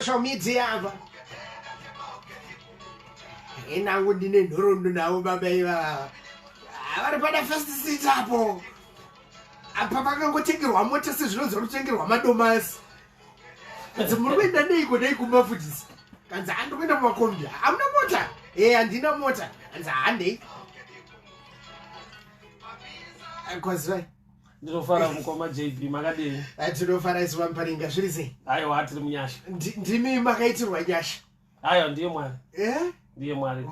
social media ava enangu ndine nhorondo navo baba ivava vari pada first sit apo apa pakangotengerwa mota sezvinonzi vari kutengerwa madomasi kanzi muri kuenda neiko nei kumba futisi kanzi handi kuenda mumakombi hamuna mota e handina mota kanzi handei eh, kwazirai ndinofara mukoma jb makadii eh, tinofara isu vamuparinga zviri sei aiwa tiri munyasha ndimi makaitirwa nyasha aiwa ndiye mwari eh? ndiye mwari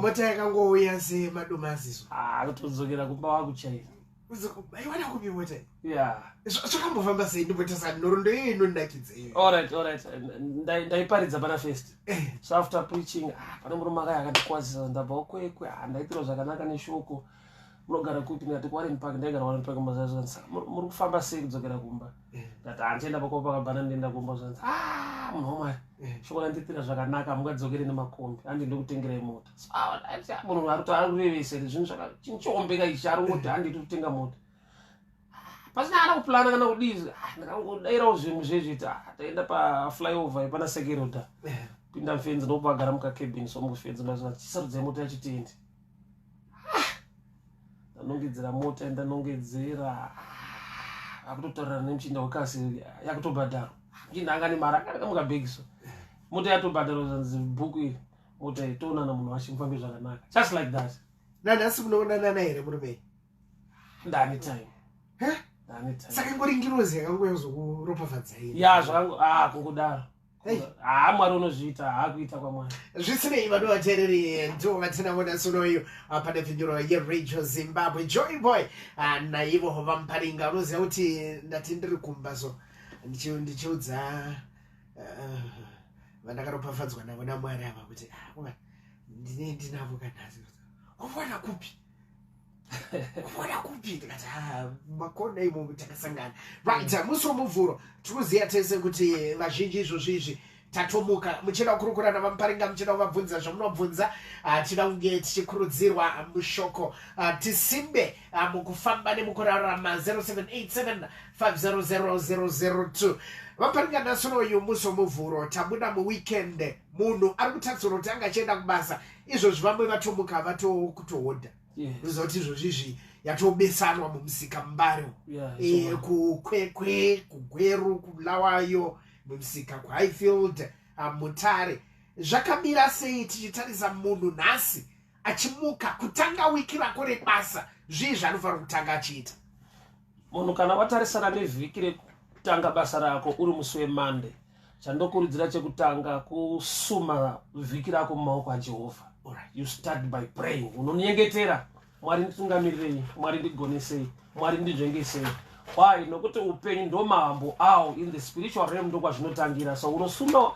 mota yakangouya semadomaziso ah, akutodzokera kumba wakuchaira aiwana kupi mota ya zvakambofamba sei ndimbotasani nhorondo iyo inondakidza iyo allright allright ndaiparidza pana first eh. so after preaching ah, pane murume akaya akandikwazisa ndabva kwekwe ah, ndaitirwa zvakanaka neshoko munogara kupi ndikati kuwarren park ndaigara warren park mazazanzi muri kufamba sei kudzokera kumba eh. ndati handienda pakova pakabhana ndienda kumba zvanzi a ah, munhu wamwari eh. shoko randitira zvakanaka mungadzokere nemakombi handi ndokutengerai mota ah, ah, munhu ari kuti ari kurevese zvinhu zvakachinhu choombeka ichi ari kungoti handi iri kutenga mota pasina ana kuplana kana kudii ndakangodairawo zvinhu zvezviti taenda paflyover yepana sekeroda eh. pinda mfenzi ndokubagara mukakebin so mukufenzi mazvaa chisarudzai mota yachitiendi ndanongedzera mota yandanongedzera akutotaurira nemuchinda wekasi yakutobhadharwa muchinda anga nemari akakamuka bhegi so mota yatobhadharwa zvanzi bhuku iri mota iyi toonana munhu wacho mufambe zvakanaka just like that nanhasi munoonanana here murumei ndani time saka ingori ngirozi yakangoyazokuropafadzaii ya zvakango a ah, kungodaro haa mwari unozviita haa kuita kwamwari zvisinei vano vateereri ndivo vatina vona sunoyo ah, pane pfinyuro yeradio zimbabwe joy boy ah, naivo vamuparinga unoziva kuti ndati ndiri kumba so ndichiudza ah, vandakaropafadzwa navo namwari ava kuti ndine ndinavo kanhasi kuvona kupi kuona kupi ndikati ah, makona imomo takasangana right mm. musi womuvhuro tikuziva tese kuti vazhinji izvozvi izvi tatomuka muchida kukurukura navamuparinga muchida kuvabvunza zvamunobvunza ah, tida kunge tichikurudzirwa mushoko ah, tisimbe ah, mukufamba nemukurarama 0787500002 vaparinga nasono uyu musi womuvhuro tabuda muweekend munhu ari kutarisirwa kuti anga achienda kubasa izvozvi vamwe vatomuka vatokutohodha unoziva kuti izvozvi izvi yatobesanwa mumusika mbare eh, kukwekwe kugweru kulawayo mumusika kuhighfield ah, mutare zvakamira sei tichitarisa munhu nhasi achimuka kutanga wiki rako rebasa zvii zvaanofanira kutanga achiita Munhu kana watarisana nevhiki rekutanga basa rako uri musi weMonday, chandokurudzira chekutanga kusuma vhiki rako mumaoko aJehovha. Alright, you start by praying. Unonyengetera, Mwari nditungamirirei, Mwari ndigonesei, Mwari ndizvengesei. Why? Nokuti upenyu ndo mambo awo in the spiritual realm ndo kwazvinotangira. So unosuma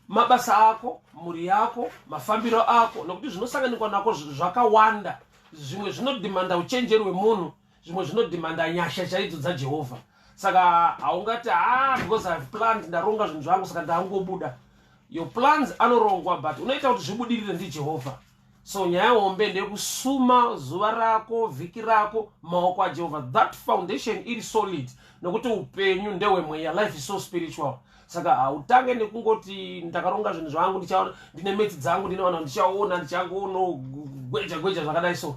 mabasa ako, mhuri yako, mafambiro ako nokuti zvinosanganikwa nako zvakawanda. Zvimwe zvinodhimanda uchenjeri wemunhu, zvimwe zvinodhimanda nyasha chaidzo dzajehovha saka haungati ha ah, because ihave planned ndaronga zvinhu zvangu saka ndaangobuda your plans anorongwa but unoita kuti zvibudirire ndijehovha so nyaya hombe ndekusuma zuva rako vhiki rako maoko ajehovha that foundation iri solid nokuti upenyu ndehwemweya life is so spiritual saka hautange nekungoti ndakaronga zvinhu zvangu ndichaona ndine metsi dzangu ndinoona ndichaona ndichangoono gweja gweja zvakadai so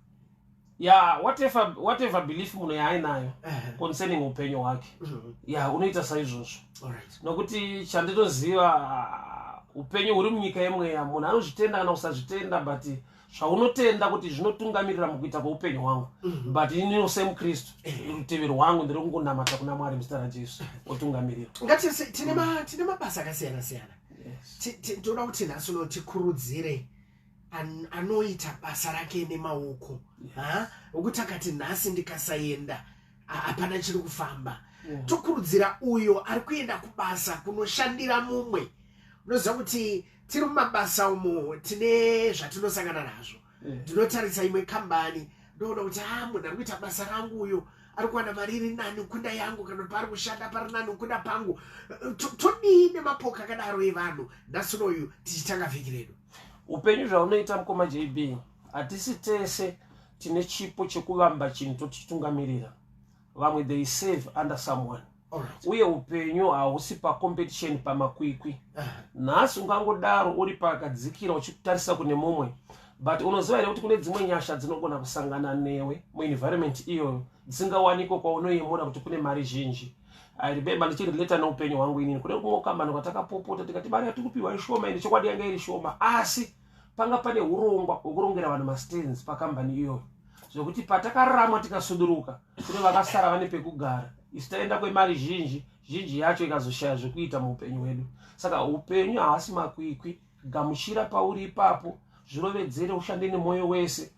ya whatever, whatever belief munhu yaainayo Ehe. concerning upenyu hwake Mhm. ya unoita saizvozvo Alright. nokuti chandinoziva ah, upenyu huri munyika yemweya munhu anozvitenda kana kusazvitenda but zvaunotenda kuti zvinotungamirira mukuita kweupenyu hwangu Mhm. but inino semukristu rutivi rwangu ndiri kungonamata kuna mwari muzita rajesu otungamirira Ngatise tine ma tine mabasa akasiyana siyana. Yes. Ti- ti- Tinoda kuti nhasi uno tikurudzire an, anoita basa rake nemaoko yeah. okuti akati nhasi ndikasaenda hapana chiri kufamba yeah. tokurudzira uyo ari kuenda kubasa kunoshandira mumwe unoziva kuti tiri mumabasa umo tine zvatinosangana nazvo ndinotarisa yeah. imwe kambani ndoona kuti ha ah, munhu ari kuita basa rangu uyo ari kuwana mari iri nani kunda yangu kana kuti paari kushanda pari nani kunda pangu todii nemapoka akadaro evanhu nhasi unoyu tichitanga vhiki redu upenyu zvaunoita mukoma jb hatisi tese tine chipo chekuvamba chinhu totichitungamirira vamwe they save under someone Alright. uye upenyu hausi pacompetition pamakwikwi nhasi ungangodaro uri pakadzikira uchitarisa kune mumwe but unoziva here kuti kune dzimwe nyasha dzinogona kusangana newe muenvironment iyoyo dzisingawanikwe kwaunoyemura kuti kune mari zhinji I remember ndichirelata neupenyu hwangu inini kune kumwe kambani kwatakapopota tikati mari yatiri kupiwa ishoma ini chokwadi yanga iri shoma asi panga pane urongwa hwekurongera vanhu mastands pakambani iyoyo zvekuti patakaramwa tikasuduruka kune vakasara vane pekugara isu taenda kwemari zhinji zhinji yacho ikazoshaya zvekuita muupenyu hwedu saka upenyu haasi makwikwi gamuchira pauri ipapo zvirovedzere ushande nemwoyo wese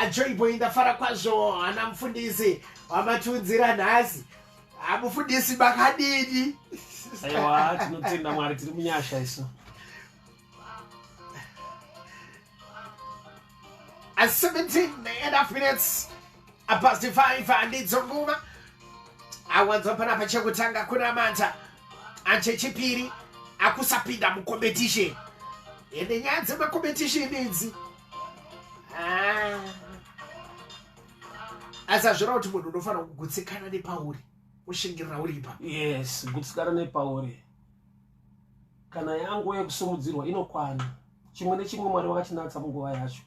ajoiboy ndafara kwazvo hana mufundisi wamatiunzira nhasi amufundisi makadini aiwa tinotenda mwari tiri munyasha isu At 17 and a half minutes apasi 5 handidzo nguva awanzwa panapa chekutanga kunamata achechipiri akusapinda mucompetition ende nyaya dzemacompetition idzi ah. asi azvira kuti munhu unofanira kugutsikana nepauri ushingirira uri ipa yes gutsikana nepauri kana yangu yekusimudzirwa inokwana chimwe nechimwe mwari wakatinatsa munguva yacho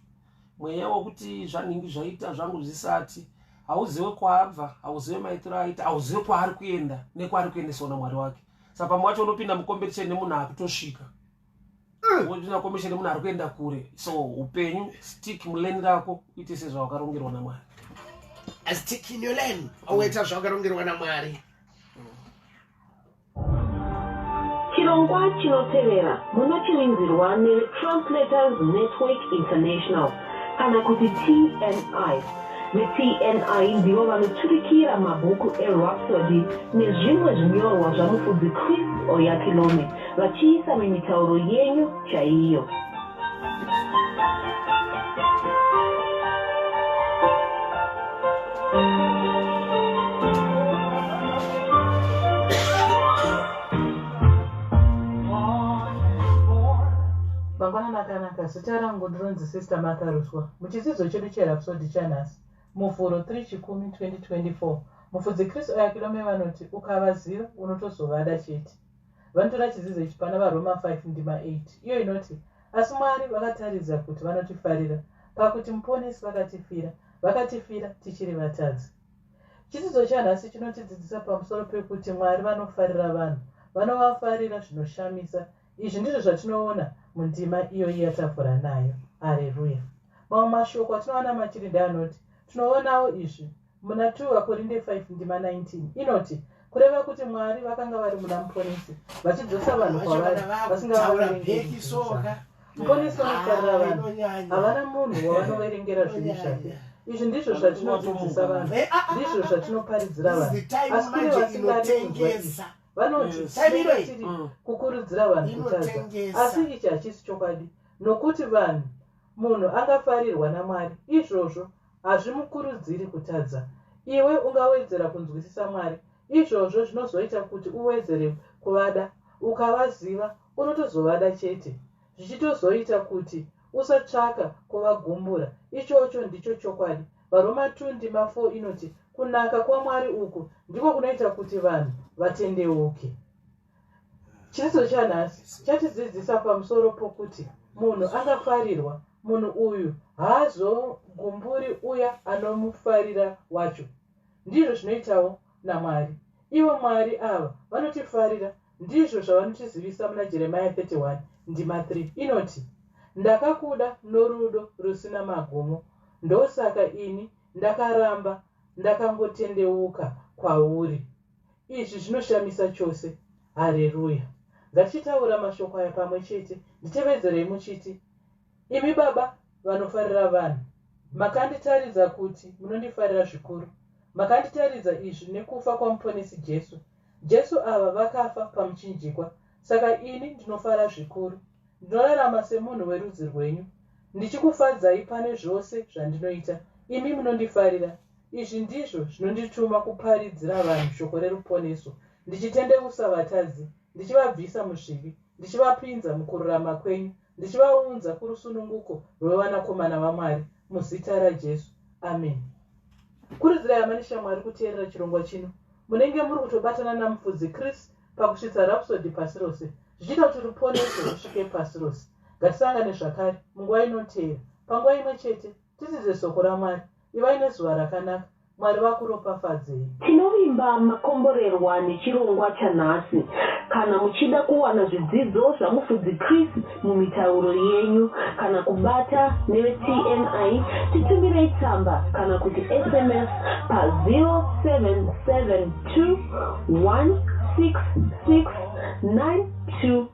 mweya wekuti zvanhingi zvaita zvangu zvisati hauzive kwaabva hauzive maitiro aita hauzive kwaari kuenda nekwaari kuendeswa namwari wake sa pamwe wacho unopinda mukombetition nemunhu akutosvika mm. wopinda mukombetition nemunhu ari kuenda kure so upenyu stick muleni rako uite sezvawakarongerwa namwari stick in your lane oita zvawakarongerwa namwari Chirongwa chinotevera munochirinzirwa neTranslators Network International kana kuti TNI. VeTNI ndivo vanoturikira mabhuku eRhapsody nezvimwe zvinyorwa zvaMufudzi Chris Oyakhilome vachiisa mumitauro yenyu chaiyo. makanaka zita rangu ndinonzi sister martha ruswa muchidzidzo chedu cherapsodi chanhasi muvhuro 3 chikumi 2024 mufudzi kristu ayakilome vanoti ukavaziva unotozovada chete vanotora chizizo ichi pana varoma 5 ndima 8 iyo inoti asi mwari vakataridza kuti vanotifarira pakuti muponesi vakatifira vakatifira tichiri vatadzi chidzidzo chanhasi chinotidzidzisa pamusoro pekuti mwari vanofarira vanhu vanovafarira zvinoshamisa izvi ndizvo zvatinoona mundima iyoyi yatavhura nayo areruya mamwe mashoko atinoona machirinda anoti tinoonawo izvi Muna 2 Vakorinde 5 ndima 19 inoti, Kureva kuti Mwari vakanga vari muna Muponesi, vachidzosa vanhu kwavari, vasingavaverengeri zvaka. Muponesi vanotarira vanhu, havana munhu wavanoverengera zvivi zvake. Izvi ndizvo zvatinodzidzisa vanhu, eh, ah, ah, ndizvo ah, zvatinoparidzira vanhu, asi kune vasingadi kunzwa izvi vanoti tiri mm. kukurudzira vanhu kutadza asi ichi hachisi chokwadi nokuti vanhu munhu angafarirwa namwari izvozvo Hazvimukurudziri kutadza. Iwe ungawedzera kunzwisisa Mwari. Izvozvo zvinozoita kuti uwedzere kuvada. Ukavaziva, unotozovada chete, zvichitozoita kuti usatsvaka kuvagumbura. Ichocho ndicho chokwadi. VaRoma 2 ndima 4 inoti, Kunaka kwaMwari uku ndiko kunoita kuti vanhu vatendeuke. Chiso chanhasi chatidzidzisa pamusoro pokuti munhu angafarirwa munhu uyu haazogumburi uya anomufarira wacho. Ndizvo zvinoitawo naMwari. Ivo Mwari ava vanotifarira, ndizvo zvavanotizivisa muna Jeremiya 31 ndima 3 inoti, Ndakakuda norudo rusina magumo, ndosaka ini ndakaramba ndakangotendeuka kwauri. Izvi zvinoshamisa chose. Hareruya. Ngatichitaura mashoko aya pamwe chete. Nditevedzerei muchiti, Imi Baba vanofarira vanhu, makanditaridza kuti munondifarira zvikuru. Makanditaridza izvi nekufa kwaMuponesi Jesu. Jesu ava vakafa pamuchinjikwa. Saka ini ndinofara zvikuru. Ndinorarama semunhu werudzi rwenyu. Ndichikufadzai pane zvose zvandinoita. Imi munondifarira. Izvi ndizvo zvinondituma kuparidzira vanhu shoko reruponeso, ndichitendeusa vatadzi, ndichivabvisa muzvivi, ndichivapinza mukururama kwenyu, ndichivaunza kurusununguko rwevanakomana vaMwari, muzita raJesu. Ameni. Kurudzirai hama neshamwari kuteerera chirongwa chino. Munenge muri kutobatana naMufudzi Chris pakusvitsa Rhapsody pasi rose, zvichiita kuti ruponeso rusvike pasi rose. Ngatisangane zvakare munguva inoteera, panguva imwe chete. Tidzidze Soko raMwari. Ivai nezuva rakanaka. Mwari vakuropafadzei. Tinovimba makomborerwa nechirongwa chanhasi. Kana muchida kuwana zvidzidzo zvaMufudzi Chris mumitauro yenyu kana kubata neveTNI, titumirei tsamba kana kuti sms pa 0772 166 92.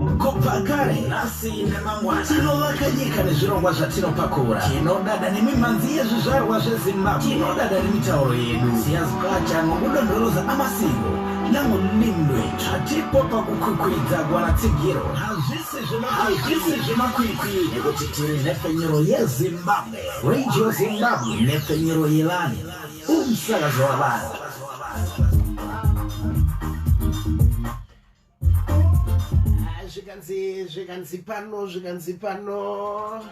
Kupa kare nhasi nemangwana tinovaka nyika nezvirongwa zvatinopakura tinodada nemimhanzi yezvizvarwa zvezimbabwe tinodada nemitauro yedu siyazikacha nokudondoroza amasiko namulimi lwedu hatipo pakukwikwidza kuwana tsigiro hazvisi zvemakwikwi nekuti tiri nhepfenyuro yezimbabwe radio zimbabwe nhepfenyuro yevanhu umsakazo wavanhu ah, zvikanzi zvikanzi pano zvikanzi pano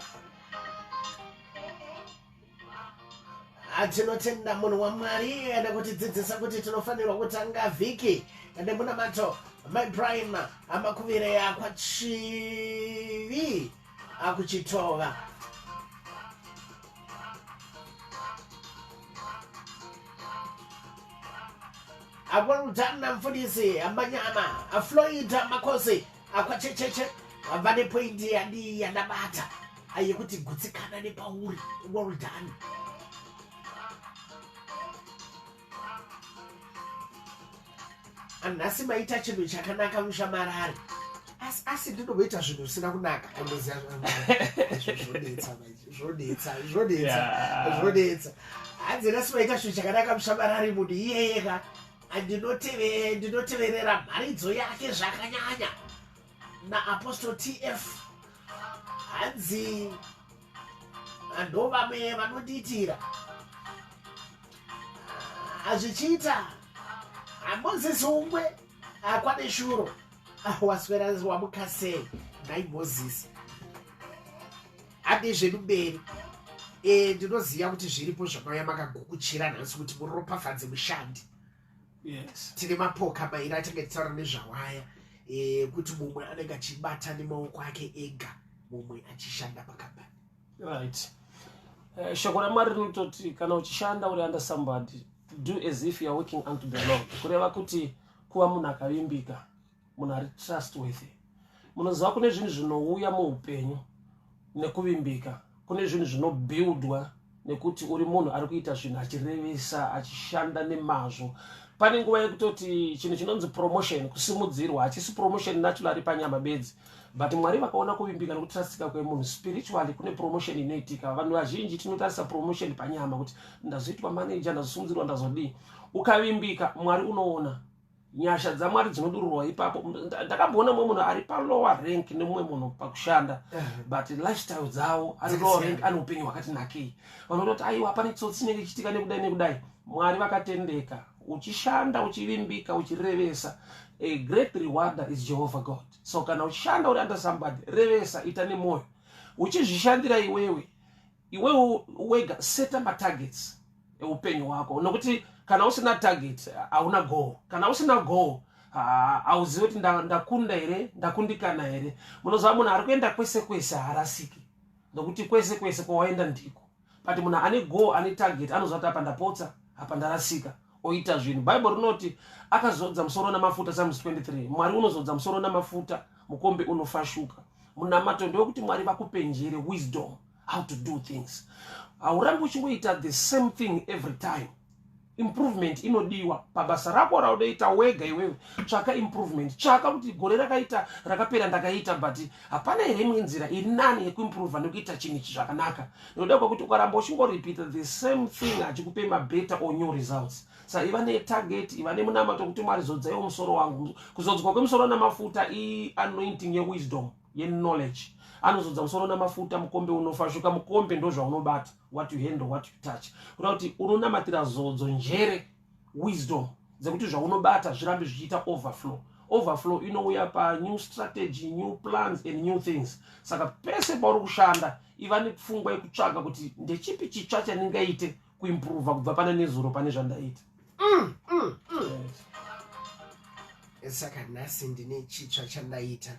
ah, tinotenda munhu wamwari ane kutidzidzisa kuti tinofanirwa kutanga vhiki nemunamato my prime amakuvire yakwa chivi akuchitova akwalutana mfundisi amanyama afloid makosi akwachecheche vane poindi yadii yandabata ayekuti gutsikana nepauri well done anhasi maita chinhu chakanaka mushamarari asi asi ndinovoita zvinhu zvisina kunaka andoziva zvodetsa zvodetsa zvodetsa zvodetsa hanzi nhasi maita chinhu chakanaka mushamarari munhu iyeyeka ndinoteverera mharidzo yake zvakanyanya naapostle tf hanzi vanhu vamwe vanondiitira hazvichiita hamozisi umwe akwane shuro waswera wamuka sei nhai mozisi hande zvedu mberi e, ndinoziva kuti zviripo zvamauya makagukuchira nhasi kuti muropafadze mushandi tine mapoka mairi atange titaura nezvawaya eh, kuti mumwe anenge achibata nemaoko ake ega mumwe achishanda pakambani right eh, shoko ramwari rinototi kana uchishanda uri under somebody do as if youare working unto the lord kureva kuti kuva munhu akavimbika munhu ari trustworthy munoziva kune zvinhu zvinouya muupenyu nekuvimbika kune zvinhu zvinobuildwa nekuti uri munhu ari kuita zvinhu achirevesa achishanda nemazvo pane nguva yekutoti chinhu chinonzi promotion kusimudzirwa hachisi promotion natural ari panyama bedzi but mwari vakaona kuvimbika nekutrastika kwemunhu spiritually kune promotion inoitika vanhu vazhinji tinotarisa promotion panyama kuti ndazoitwa manager ndazosimudzirwa ndazodii ukavimbika mwari unoona nyasha dzamwari dzinodururwa ipapo ndakamboona mumwe munhu ari palower rank nemumwe munhu pakushanda but lifestyle dzavo ari lower rank ane upenyu hwakati nakei vanototi aiwa pane tsotsi inenge ichitika nekudai nekudai mwari vakatendeka uchishanda uchivimbika uchirevesa a great rewarder is jehovah god so kana uchishanda uri under somebody revesa ita nemwoyo uchizvishandira iwewe iwewo wega seta matargets eupenyu hwako nokuti kana usina target hauna goal kana usina goal hauzivi kuti ndakunda here ndakundikana here munoziva munhu ari kuenda kwese kwese haarasiki nokuti kwese kwese kwawaenda ndiko but munhu ane goal ane target anoziva kuti apa ndapotsa apa ndarasika oita zvinhu bhaibheri rinoti akazodza musoro namafuta samus 23 mwari unozodza musoro namafuta mukombe unofashuka munamato ndewekuti mwari vakupenjere wisdom how to do things haurambi uchingoita the same thing every time improvement inodiwa pabasa rako raunoita wega iwewe tsvaka improvement tsvaka kuti gore rakaita rakapera ndakaita but hapana here imwe nzira iri nani yekuimprova nekuita chinhu ichi zvakanaka nekuda kwekuti ukaramba uchingorepeata the same thing hachikupe mabetter or new results sa iva netarget iva nemunamato kuti mwari zodzaiwo musoro wangu kuzodzwa kwemusoro namafuta ianointing yewisdom yeknowledge anozodza musoro namafuta mukombe unofa shuka mukombe ndozvaunobata what you handle what you touch kuda kuti unonamatira zodzo njere wisdom dzekuti zvaunobata zvirambe zvichiita overflow overflow inouya panew strategy new plans and new things saka pese pauri kushanda iva nepfungwa yekutsvaga kuti ndechipi chitsva chandingaite kuimprova kubva pane nezuro pane zvandaita mm, mm, mm. saka nhasi ndine chitsva chandaita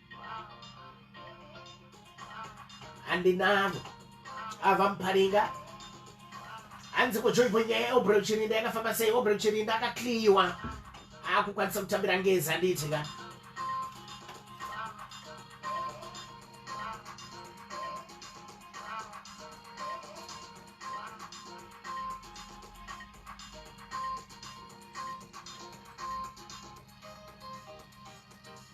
handinavo ava muparinga hanzi kujoibho nyaya yeobrel chirinda yakafamba sei obrel chirinda akakliyiwa akukwanisa kutambira ngezi handiti ka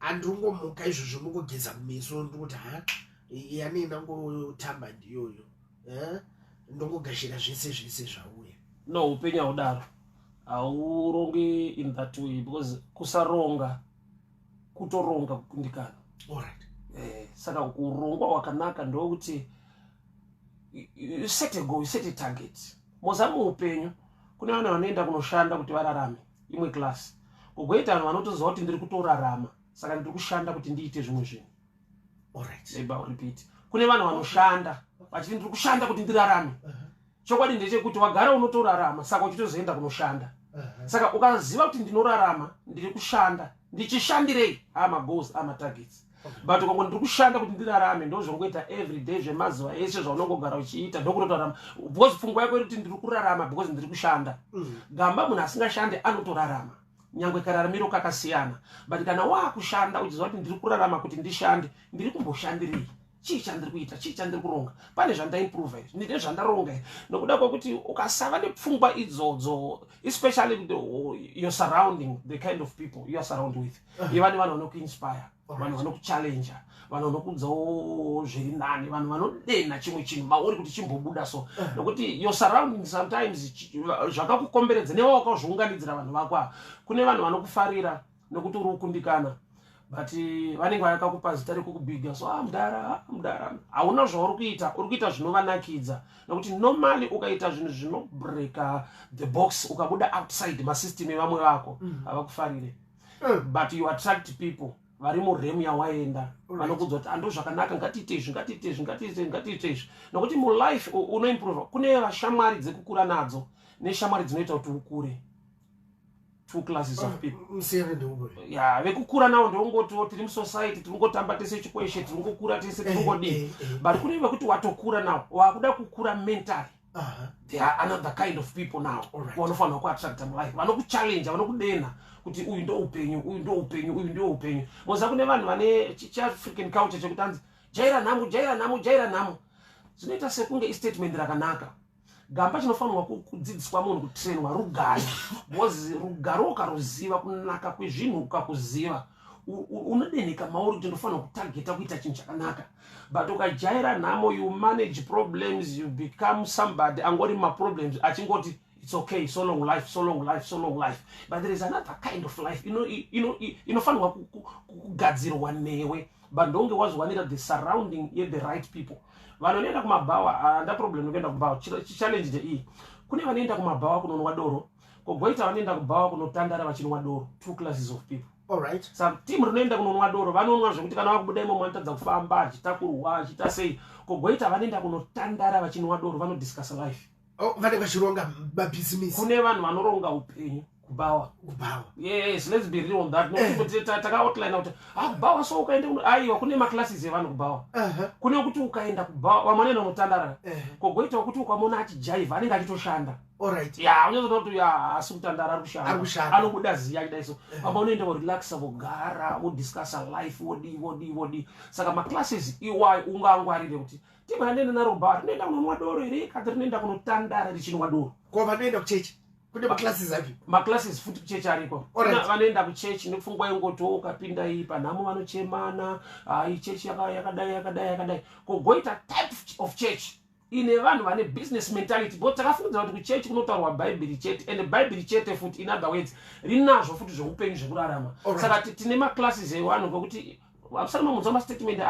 andingomuka izvozvo ndingogeza kumeso ndikuti ha yani ndangotamba ndiyoyo eh? ndongogashira zvese zvese zvauya no upenyu haudaro haurongi in that way because kusaronga kutoronga kukundikana right. eh, saka kurongwa wakanaka ndokuti you set a goal you set a target mozama upenyu kune vana vanoenda kunoshanda kuti vararame imwe class kugoita vanhu vanotoziva kuti ndiri kutorarama saka ndiri kushanda kuti ndiite zvimwe zvinhu kune vanhu vanoshanda vachiti ndiri kushanda kuti ndirarame uh-huh. chokwadi ndechekuti wagara unotorarama saka uchitozoenda kunoshanda uh-huh. saka ukaziva kuti ndinorarama ndiri kushanda ndichishandirei amagos amatargets but ukangoti ndiri kushanda kuti ndirarame ndozvongoita everyday zvemazuva ese zvaunongogara uchiita ndokutotorarama because pfungwa yako irikuti ndiri kurarama because ndiri kushanda mm. gamba munhu asingashande anotorarama nyangwe kararamiro kakasiyana but kana waakushanda uchiziva kuti ndiri kurarama kuti ndishande ndiri kumboshandirei chii chandiri kuita chii chandiri kuronga pane zvandaimprova izvi ndine zvandaronga izvi nokuda kwekuti ukasava nepfungwa idzodzo especially your surrounding the kind of people youare surround with iva nevanhu vanokuinspire vanhu vanokuchallenja vanhu vanokuudzawo zviri nani vanhu vanodenha chimwe chinhu mauri kuti chimbobuda so eh. nokuti your surrounding sometimes zvakakukomberedza newa wakazviunganidzira vanhu vako ava kune vanhu vanokufarira nokuti uri kukundikana but eh, vanenge vayakakupa zita rekukubhiga so ah, mudara ah, mudara hauna zvauri kuita uri kuita zvinovanakidza nokuti normally ukaita zvinhu zvinobreaka the box ukabuda outside masystem evamwe vako mm. havakufarire mm. mm. but you attract people vari muremu yawaenda vanokuudza kuti ando zvakanaka ngatiite izvi ngatiite izvi ngatiite ngatiite izvi nokuti mulife unoimprove kune vashamwari dzekukura nadzo neshamwari dzinoita kuti ukure two classes of ah, people ya vekukura navo ndongotiwo tiri musociety tiringotamba tese chikweshe tiringokura tese eh, tiringodii eh, eh. but kune vekuti watokura navo wakuda kukura mentally Uh-huh. There are another kind of people now vanofanira kuattracta mulife vanokuchallenja vanokudenha kuti uyu ndo upenyu uyu ndo upenyu uyu ndo upenyu moziva kune vanhu vane chiafrican culture chekutanzi jaira nhamo jaira nhamo jaira nhamo zvinoita sekunge istatement rakanaka gamba chinofanirwa kudzidziswa munhu kutrainwa rugare bcause rugare ukaruziva kunaka kwezvinhu ukakuziva unodenheka mauri kuti ndofanira kutageta kuita chinhu chakanaka but ukajaira nhamo you manage problems you become somebody angori maproblems achingoti it's okay so long life so long life so long life but there is another kind of life inofanirwa kugadzirwa newe but ndonge wazowanika the surrounding ye the right people vanhu vanoenda kumabhawa handa ah, problem nekuenda kumbawa challenge ndeiyi kune vanoenda kumabhawa kunonwa doro kogoita vanoenda kubhawa kunotandara vachinwa doro two classes of people Alright. Sa team rinoenda kunonwa doro vanonwa zvekuti kana vakubuda imomo vanotadza kufamba achitakurwa achiita sei kogoita vanoenda kunotandara vachinwa doro vanodiscuss life oh, vane vachironga mabhizimisi kune vanhu vanoronga upenyu kubawa kubawa yes let's be real on that eh. nokuti takaoutline kuti ah kubawa so ukaenda aiwa kune maclasses evanhu kubawa kune kuti ukaenda kubawa vamwe vanoenda unotandara kogoitawo kuti ukamona achijaivha anenge achitoshanda Alright. Yeah, unozoda kuti yeah, asi kutandara ari kushanda. Ari kushanda. Anobuda ziya kudai so. Eh. Apa unoenda wo relaxa vogara, wo discuss life, wo di wo di wo di. Saka ma classes iwayo e ungangwarire kuti tiba rinoenda naro bar, rinoenda kunonwa doro here kana rinoenda kunotandara richinwa doro. Ko vanoenda kuchechi. Kune ma classes api? Ma classes futi kuchechi ariko. Alright. Vanoenda kuchechi nepfungwa yengoti wo ukapinda iyi panhamo vanochemana, hayi chechi yakadai yakadai yakadai. Ko goita type of church. ine vanhu vane business mentality but takafungidzira kuti kuchechi kunotaurwa bhaibheri chete and bhaibheri chete futi in other words rinazvo futi zveupenyu zvekurarama saka tine maclasses evanhu kwekuti akusana mamunzwa mastatement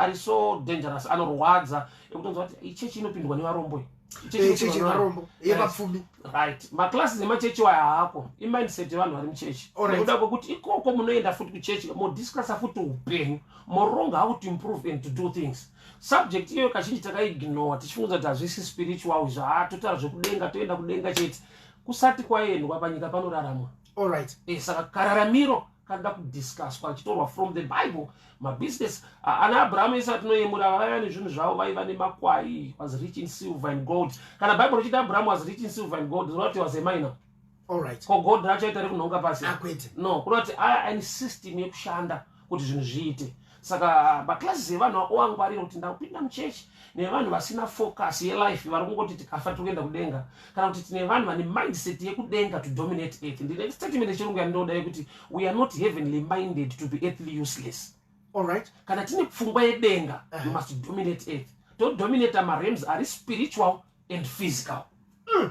ari so dangerous anorwadza ekutonzwa kuti ichechi inopindwa nevarombo chechivarombo eh, yevapfumi right maclasses emachechi waya haako imindset yevanhu vari muchechi nekuda kwekuti ikoko munoenda futi kuchechi modiscussa futi upenyu moronga how to improve and to do things subject iyoyo kazhinji takaignore tichifunga kuti hazvisi spiritual izvo ha totara zvekudenga toenda kudenga chete kusati kwaendwa panyika panoraramwa allright e, eh, saka kararamiro kanoda kudiscuswa achitorwa from the bible mabusiness ana abraham ese atinoyemura vaiva nezvinhu zvavo vaiva nemakwai was rich in silver and gold kana bible richiti abraham was rich in silver and gold zvoreva kuti was a minor alright ko god racho ita rekunhonga pasi akwete ah, no kunoti aya aine system yekushanda kuti zvinhu zviite saka maclasses evanhu oangwarira kuti ndakupinda muchechi nevanhu vasina focus yelife vari kungoti tikafa tiri kuenda kudenga kana kuti tine vanhu vane mindset yekudenga to dominate earth ndine statement yechirungu yandinoda yekuti we are not heavenly minded to be earthly useless allright kana tine pfungwa yedenga uh -huh. you must dominate earth todominata marems ari spiritual and physical mm.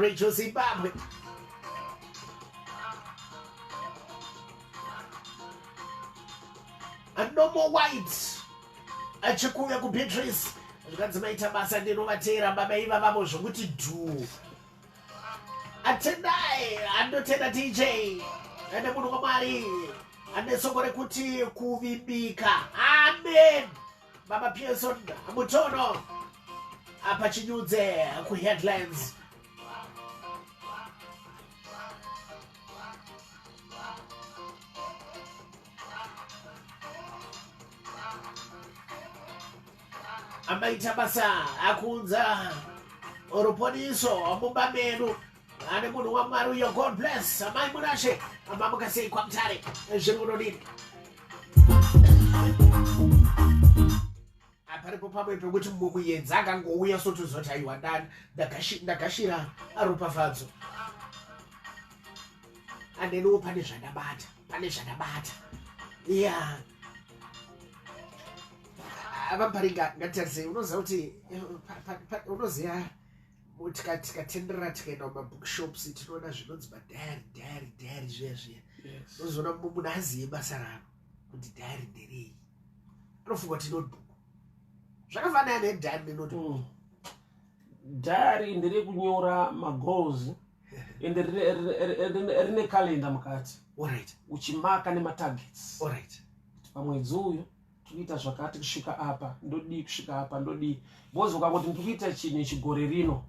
Rachel Zimbabwe. Anomo White achikuuya kuBeatrice zvikanzi maita basa ndinovateera baba ivavavo zvokuti dhuu atendai andotenda dj ane munhu wamwari ane soko rekuti kuvimbika amen Baba Pearson Mutono apa chinyudze kuheadlines amaita basa akuunza ruponiso mumba medu ane munhu wamwari uyo god bless amai munashe amamuka sei kwamutare zviri kunodini aparipo pamwe pekuti mumuyenzi akangouya sotuzoti aiwa ndani ndakashira aropafadzo andeniwo pane zvandabata pane zvandabata ya avaparinga ngatitarisa unoziva kuti eh, unoziva motika tikatenderera tikaenda kumabookshops tinoona zvinonzi madhayari dhayari dhayari zviya zviya tozoona mumwe munhu azive basa ravo kuti dhayari nderei anofunga kuti notebook zvakafanana nedhayari nenotebook mm. dhayari nderekunyora magoals and rine calenda mukati uchimarka nematargets pamwedzi uyu tinoita zvakati kusvika apa ndodii kusvika apa ndodii bhozi ukangoti ndiri kuita chinhu ichi gore rino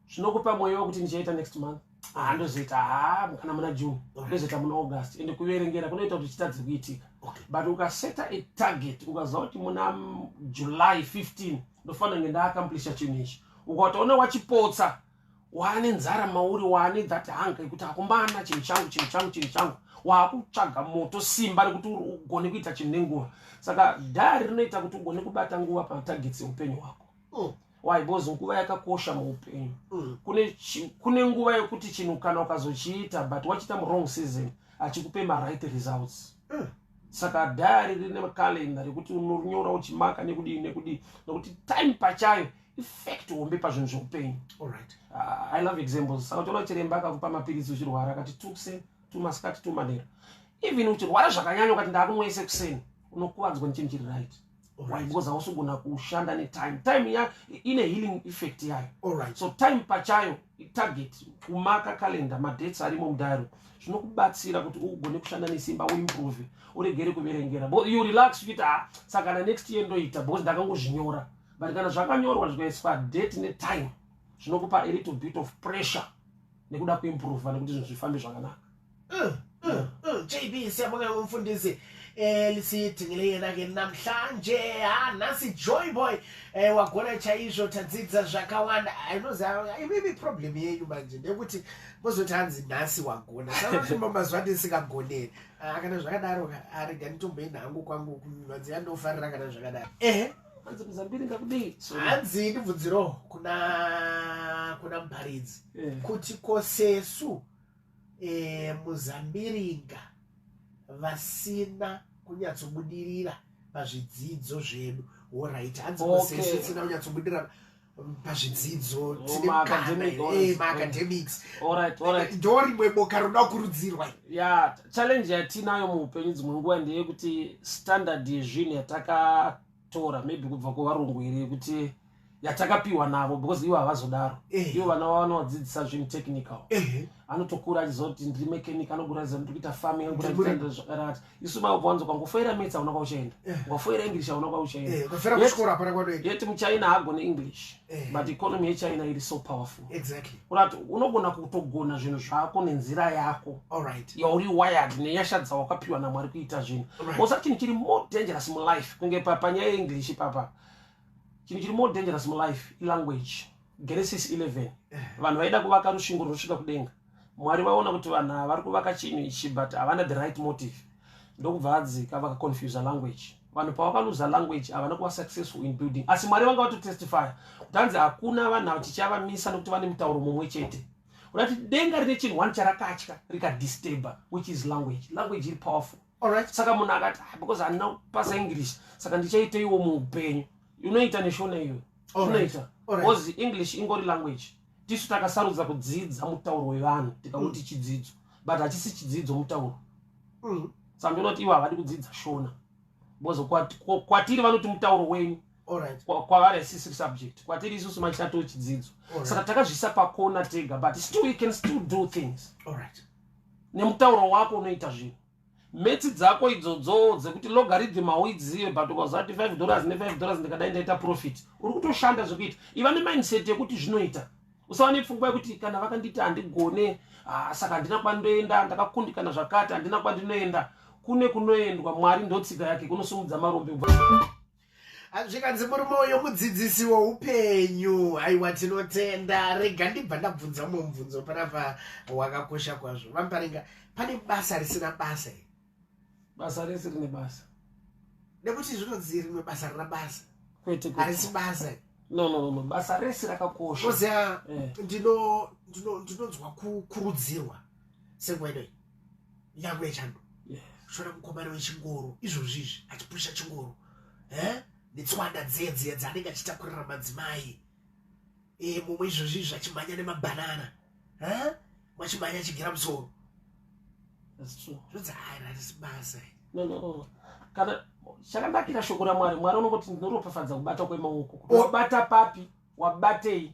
zvinokupa mweya wekuti ndichaita next month haa ndozoita haa kana muna june ndozoita muna august ende kuverengera kunoita kuti chitadze kuitika but ukaseta a target ukaziva kuti muna july 15 ndofanira kunge ndaakamplisha chinhu ichi ukatoona wachipotsa waane nzara mauri waane that hanga yekuti akumbana chinhu changu chinhu changu chinhu changu waakutsvaga moto simba rekuti ugone kuita chinhu nenguva saka dhari rinoita kuti ugone kubata nguva pamatagets eupenyu hwako mm. why because nguva yakakosha muupenyu mm. kune, kune nguva yekuti chinhu kana ukazochiita but wachiita murong season achikupe maright results mm saka dhari rine calendar rekuti unorinyora uchimaka nekudii nekudii nokuti time pachayo effect hombe pazvinhu zveupenyu allright uh, ah, i love examples saka toona chiremba akakupa mapiritsi uchirwara akati tukse tumasikati tumanera even uchirwara zvakanyanya ukati ndakumwese kuseni unokuvadzwa nechinhu chiri right because hausugona kushanda netime time ya ine healing effect yayo right. so time pachayo itarget kumaka calendar madates arimo mudaro zvinokubatsira kuti ugone kushanda nesimba uimprove uregere kuverengera you relax uchiita ah, sakana next year ndoita because ndakangozvinyora but kana zvakanyorwa zvikaiswa date netime zvinokupa a little bit of pressure nekuda kuimprova nekuti zvinhu zvifambe zvakanaka mm, mm, mm. jb siyabonga umfundisi lisitingileyenake namhlanje ha nhasi joy boy eh, wagona chaizvo tadzidza zvakawanda inoziva imimi problem yenyu manje ndekuti mozoti hanzi nhasi wagona saatumba mazuva ndisingagoneri ah, kana zvakadaro arega nditomboenda hangu kwangu kuvanzi yandofarira kana zvakadaro ehe hanzi muzambiri ngakudei hanzi ndibvunzirowo kuna kuna muparidzi eh. kuti kosesu eh, muzambiringa vasina kunyatsobudirira pazvidzidzo zvedu horaiti hanzi kosesu isina kunyatsobudirira pazvidzidzo dzinemaacademics eh, ndorimwe boka roda kukurudzirwa ya challenge yatiinayo muupenyu dzimwe nguva ndeyekuti standard yezvinhu yatakatora maybe kubva kuvarungu here yekuti yatakapiwa navo because ivo havazodaro eh. ivo vana vavo vanovadzidzisa zvinhu technical eh. anotokura achizoti ndiri mechanic anogura zano ndiri kuita farming anogura zvakadati isu maoko wanzi ukangofoira mets auna kwauchaenda eh. ukafoira english auna kwauchaendayet eh, muchina haagone english eh. but economy yechina iri so powerful urat unogona kutogona zvinhu zvako nenzira yako yauri wired nenyasha dzawakapiwa namwari kuita zvinhu osa chinhu chiri more dangerous mulife kunge panyaya yeenglish ipapa chinhu chiri more dangerous mulife ilanguage Genesis 11 vanhu vaida kuvaka rusvingo rwosvika kudenga mwari vaona kuti vanhu ava vari kuvaka chinhu ichi but havana the right motive ndokubva vadzika vakaconfusa language vanhu pavakaluza language havana kuva successful in building asi mwari vanga vatotestifya kuti hanzi hakuna vanhu ava tichavamisa nokuti vane mutauro mumwe chete kuda kuti denga rine chinhu one charakatya rikadisturber which is language language iri powerful alright saka munhu akati ah, because handina kupasa english saka ndichaiteiwo muupenyu unoita neshona iyo unoita bcause english ingori language tisu takasarudza kudzidza mutauro wevanhu tikauti mm. chidzidzo but hachisi chidzidzo mutauro mm. saka ndinoti ivo havadi kudzidza shona bcause kwatiri vanoti mutauro wenyu kwavari asisiri subject kwatiri isusu machato chidzidzo saka takazvisa pakona tega but still we can still do things All right. nemutauro wako unoita zvinhu metsi dzako idzodzo dzekuti logarithm hauidzive but ukazati 5 dollars ne5 dollars ndikadai ndaita profit uri kutoshanda zvekuita iva nemindset yekuti zvinoita usava nepfungwa yekuti kana vakandiita handigone ah, saka handina kwandoenda ndakakundikana zvakati handina kwandinoenda kune kunoendwa mwari ndotsika yake kunosumudza marombe zvikanzi murume uyo mudzidzisi woupenyu haiwa tinotenda rega ndibva ndabvunza umwe mubvunzo panapa wakakosha kwazvo vamuparinga pane basa risina basa i basa rese rine basa nekuti zvinonzi rimwe basa rina basa kwete harisi basa i no no no basa rese rakakosha oziva eh. ndinonzwa kukurudzirwa senguva inoi nyangwe yechando shona mukomana wechingoro izvozvi izvi achipusha chingoro eh? netswanda dziye dziye dzaanenge achitakurira madzimai eh, mumwe izvozvi izvi achimhanya nemabhanana eh? mwachimhanya achigera musoro zvodzaairasibasa kana chakanakira shoko ramwari mwari unongoti ndinoropafadza kubata kwemaoko kuti wabata papi wabatei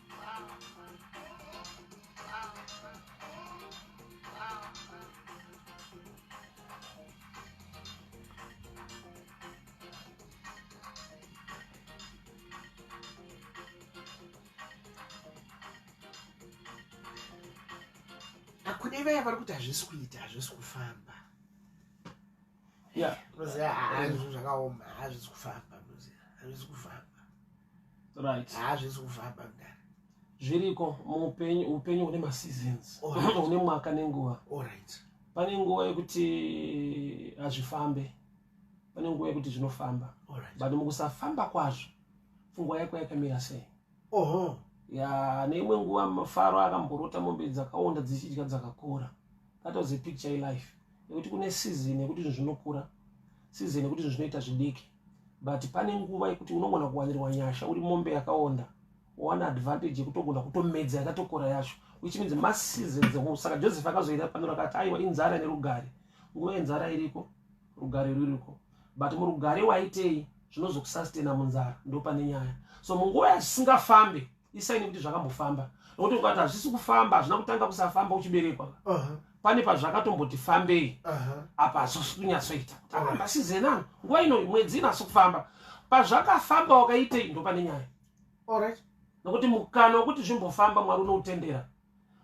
kune vaya vari kuti hazvisi kuita hazvisi kufamba yeah roze hazvo ah, zvakaoma hazvizi ah, kufamba roze hazvizi ah, kufamba right hazvizi kufamba mdara zviriko muupenyu upenyu hune maseasons hune mwaka nenguva allright pane nguva yekuti hazvifambe pane nguva yekuti zvinofamba but mukusafamba kwazvo pfungwa yako yakamira sei oho ya neimwe nguva mafaro akamborota mombe dzakaonda dzichidya dzakakora that was a picture ye life nekuti kune season yekuti zvinhu zvinokura season yekuti zvinhu zvinoita zvidiki but pane nguva yekuti unogona kuwanirwa nyasha uri mombe yakaonda wowana advantage yekutogona kutomedza yakatokora yacho which means maseasons saka joseph akazoira pano rakati aiwa inzara nerugare nguva yenzara iriko rugare ruriko but murugare waitei zvinozokusastena munzara ndo pane nyaya so munguva yazvisingafambe isaini kuti zvakambofamba nokuti ukati hazvisi kufamba hazvina kutanga kusafamba uchiberekwa pane pazvakatomboti fambei apa hazvisi kunyatsoita kuti aramba ah, sizenano nguva ino mwedzi inasi kufamba pazvakafamba wakaitei ndo pane nyaya nokuti mukana wekuti zvimbofamba mwari unoutendera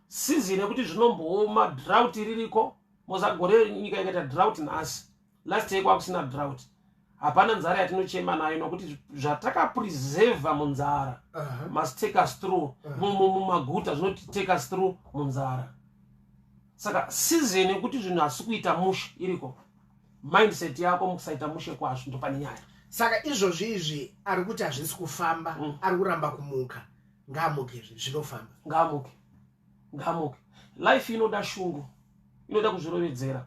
season yekuti zvinombooma drought ririko mozagore nyika ikaita drought nhasi last year kwakusina drought hapana nzara yatinochema nayo nokuti zvatakapreserva munzara must take us through mumaguta zvinoti take us through munzara saka season yekuti zvinhu hasi kuita mushe iriko mindset yako mukusaita mushe kwazvo ndopane nyaya saka izvozvi izvi ari kuti hazvisi kufamba mm. ari kuramba kumuka ngaamuke zvinofamba ngaamuke ngaamuke life inoda shungu inoda kuzvirovedzera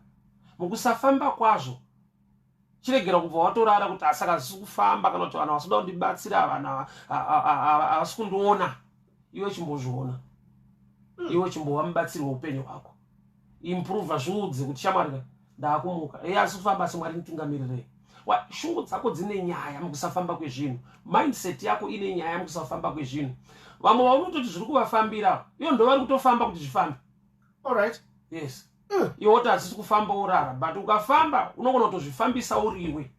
mukusafamba kwazvo chiregera kubva watorara kuti asaka zisi kufamba kana kuti vanhu vasida kundibatsira avana havasi kundiona iwe chimbozviona hmm. iwe chimbova mubatsiri weupenyu hwako improva zviudze kuti shamwari ndakumuka eyi asi kufamba asi mwari nditungamirire shungu dzako dzine nyaya mukusafamba kwezvinhu mindset yako ine nyaya mukusafamba kwezvinhu vamwe vaunototi zviri kuvafambira iyo ndo vari kutofamba kuti zvifambe allright yes mm. iwe woti hadzisi kufamba urara but ukafamba unogona kutozvifambisa uriwe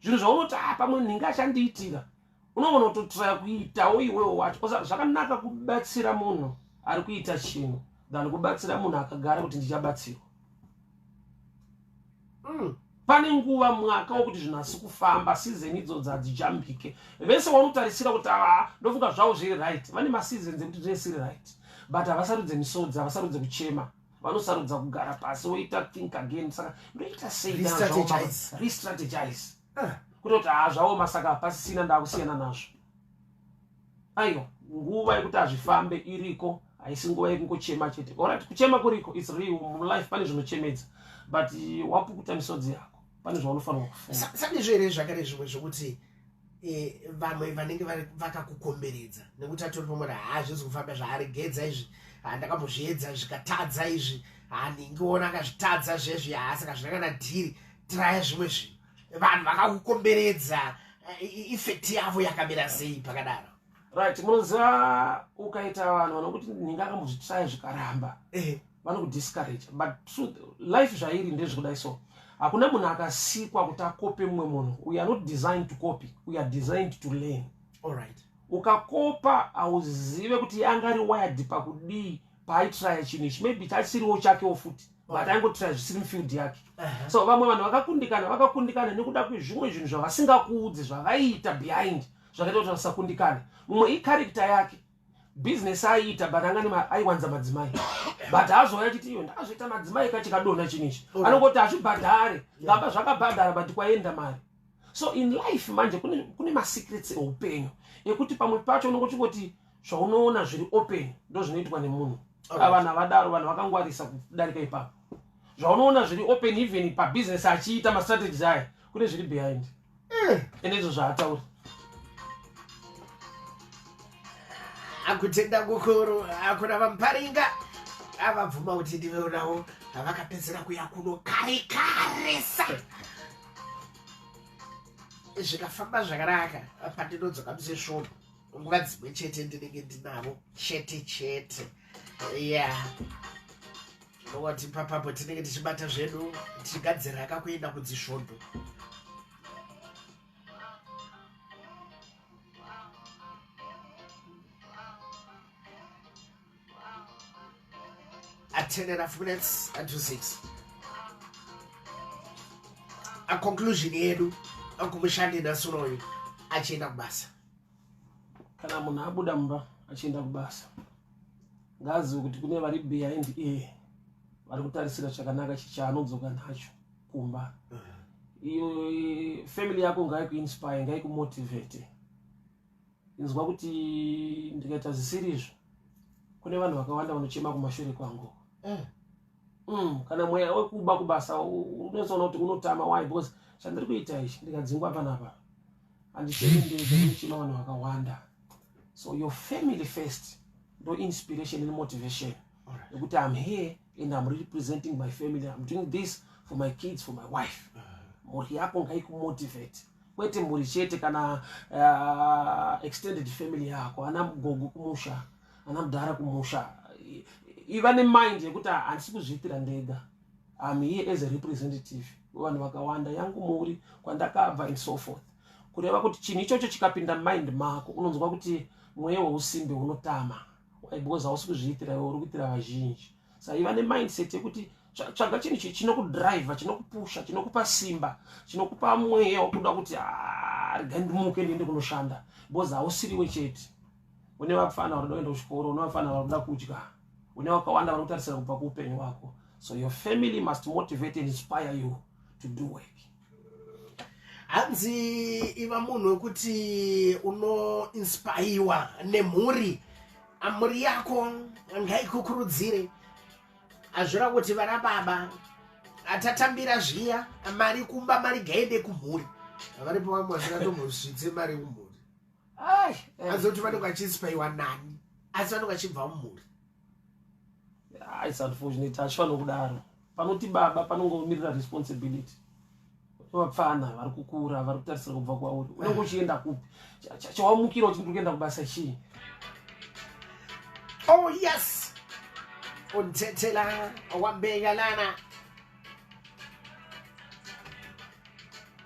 zvinhu zvaunoti ha ah, pamwe nhinga achandiitira unogona kutotiraya kuitawo iwewo wacho osa zvakanaka kubatsira munhu ari kuita chinhu than kubatsira munhu akagara kuti ndichabatsirwa mm. pane nguva mwaka wokuti zvinhu asi kufamba season idzodzi hadzijambike vese wanotarisira kuti ava ah, ndofunga zvavo zviri right vane maseasons ekuti zvese iri right but havasarudze misodzi havasarudze kuchema vanosarudza kugara pasi woita think again saka ndoita seirestrategize ah. kutoti haa zvaoma saka pasisina ndakusiyana nazvo aiwa nguva yekuti hazvifambe iriko haisi nguva yekungochema chete orit kuchema kuriko its real mulife pane zvinochemedza but wapukuta misodzi yako pane zvaunofanirwa kufunga sandizvo here zvakare zvimwe zvokuti eh, vamwe vanenge vakakukomberedza nekuti atori pamwe haazvizi kufamba zvaaregedza izvi handakambozviedza zvikatadza izvi handingiona akazvitadza zvezvi haasaka zvinakana dhiri tiraya zvimwe zvinhu vanhu vakakukomberedza eh, ifekti yavo yakamira sei pakadaro right munoziva ukaita vanhu vanokuti ninga akambozvitsaya zvikaramba eh. vanokudiscourage but truth life zvairi ndezvekudai so hakuna munhu akasikwa kuti akope mumwe munhu we are not designed to copy we are designed to learn allright ukakopa hauzive kuti yanga ari wired pakudii paaitraya chinhu ichi maybe chasiriwo chakewo futi but aingotraya zvisiri mufield yake uh-huh. so vamwe vanhu vakakundikana vakakundikana nekuda kwezvimwe zvinhu zvavasingakuudzi zvavaiita behind zvakaita kuti vasakundikane mumwe ikarikta yake business aiita but angani aiwanza madzimai but azouya chiti iyo ndazviita madzimai kachikadona chini ichi okay. anongoti hazvibhadhare ngamba zvakabhadhara but kwaenda mari so in life manje kune, kune masecrets eupenyu ekuti pamwe pacho unongo chingoti zvaunoona zviri open ndo zvinoitwa nemunhu okay. vanhu avadaro vanhu vakangwarisa kudarika ipapo zvaunoona zviri open even pabusiness achiita mastrategies aya kune zviri behind ende izvo zvaataura akutenda kukuru akuna vamuparinga avabvuma kuti ndiveonawo avakapedzera kuya kuno kare karesa zvikafamba zvakanaka pandinodzoka musesvono nguva dzimwe chete ndinenge ndinavo chete chete ya watipa papo tinenge tichibata zvedu tichigadzira akakuenda kudzisvondo at 10 and a half minutes and to 6 a conclusion yedu akumushandi nasuroyo achienda kubasa kana munhu abuda mumba achienda kubasa ngaazive kuti kune vari behind ear vari kutarisira chakanaka chichaanodzoka nacho kumba iyo family yako ngaikuinspire ngaikumotivate inzwa kuti ndikaita zvisiri izvo kune vanhu vakawanda vanochema kumashure kwangu eh. mm, kana mweya wekuba kubasa unozoona kuti unotama why because chandiri kuita ichi ndikadzingwa panapa handisevendezo nechino vanhu vakawanda so your family first no inspiration and motivation nekuti right. i'm here and i'm representing my family i'm doing this for my kids for my wife uh-huh. mhuri yako ngaikumotivate kwete mhuri chete kana uh, extended family yako ana mgogo kumusha ana mudhara kumusha iva nemind yekuti handisi kuzviitira ndega I'm here as a representative wevanhu vakawanda yangu muri kwandakabva and so forth kureva kuti chinhu ichocho chikapinda mind mako unonzwa kuti mweya weusimbe unotama because hausi kuzviitira iwe uri kuitira vazhinji saiva nemindset yekuti tsvaga chinhu chi chinokudriver chinokupusha chinokupa simba chinokupa mweya wekuda kuti ah, rega ndimuke ndiende kunoshanda because hausiriwe chete une vapfana vanoda kuenda kuchikoro une vapfana vanoda kudya une wakawanda vari kutarisira kubva kuupenyu hwako so your family must motivate and inspire you to do work hanzi iva munhu wekuti unoinspaiwa nemhuri mhuri yako ngaikukurudzire hazvira kuti vana baba atatambira zviya mari kumba mari gaende kumhuri varipo vamwe vasina tomuzvidze mari kumhuri hanzi kuti vanenge vachinspaiwa nani asi vanenge vachibva mumhuri isunfortunate hachifanira kudaro panoti baba panongomirira responsibility vapfana vari kukura vari kutarisira kubva kwauri unenge uchienda kupi chawamukira uchiti uri kuenda kubasa chii oh yes untetela wambengalana